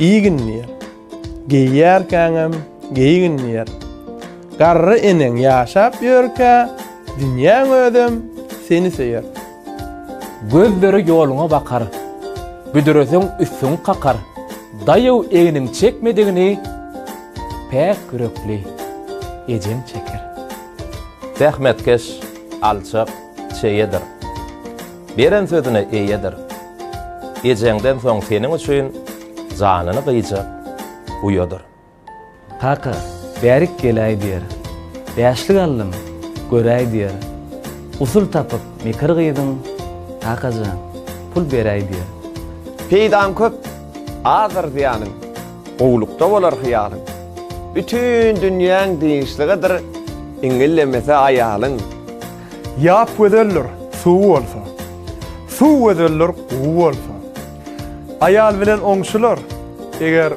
Iýgin diýer. Geýýärkäňem geýgin diýer. Garry eneň ýaşap ýörkä, dünýäň özem seni söýer. Gözleri ýoluňa bakar. Büdreseň üstüň kakar. Daýaw egniň çekmedigini päk ýürekli ejeň çeker. Zähmetkeş, alçak, çeýedir. Beren sözüne eýedir. Ejeňden soň seniň üçin janyny gyýjak uýadyr. Kaka, bärik geläý diýer. Bäşlik aldym, göräý diýer. Usul tapyp, mekir gyýdym, kaka jan, pul beräý diýer. Peýdaň köp, azdyr zyýanyň, gowulykda bolar hyýalyň. Bütin dünýäň dynçlygydyr, iňňillemese aýalyň. Ýap gözeldir, suw bolsa. Suw gözeldir, guw bolsa. Aýal bilen oňşular, eger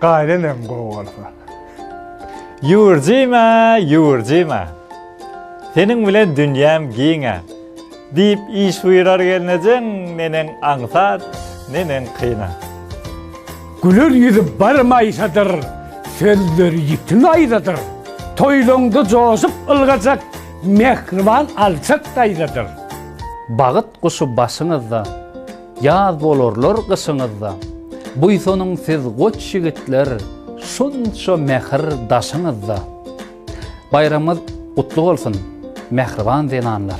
gaýynenem gowy bolsa. Ýüwürjime, ýüwürjime. Seniň bilen dünýäm giňe. Diýip iş buýrar gelnejeň, neneň aňsat, neneň kynat. Güler ýüzi bar maýsadyr, sözleri ýiti naýzadyr. Toýlaňda joşup ylgajak, mähriban alçak daýzadyr. Bagyt guşy başyňyzda, ýaz bolarlar gyşyňyzda. Buýsanyň siz goç ýigitler, şunça mähir daşyňyzda. Baýramyňyz gutly bolsun, mähriban zenanlar!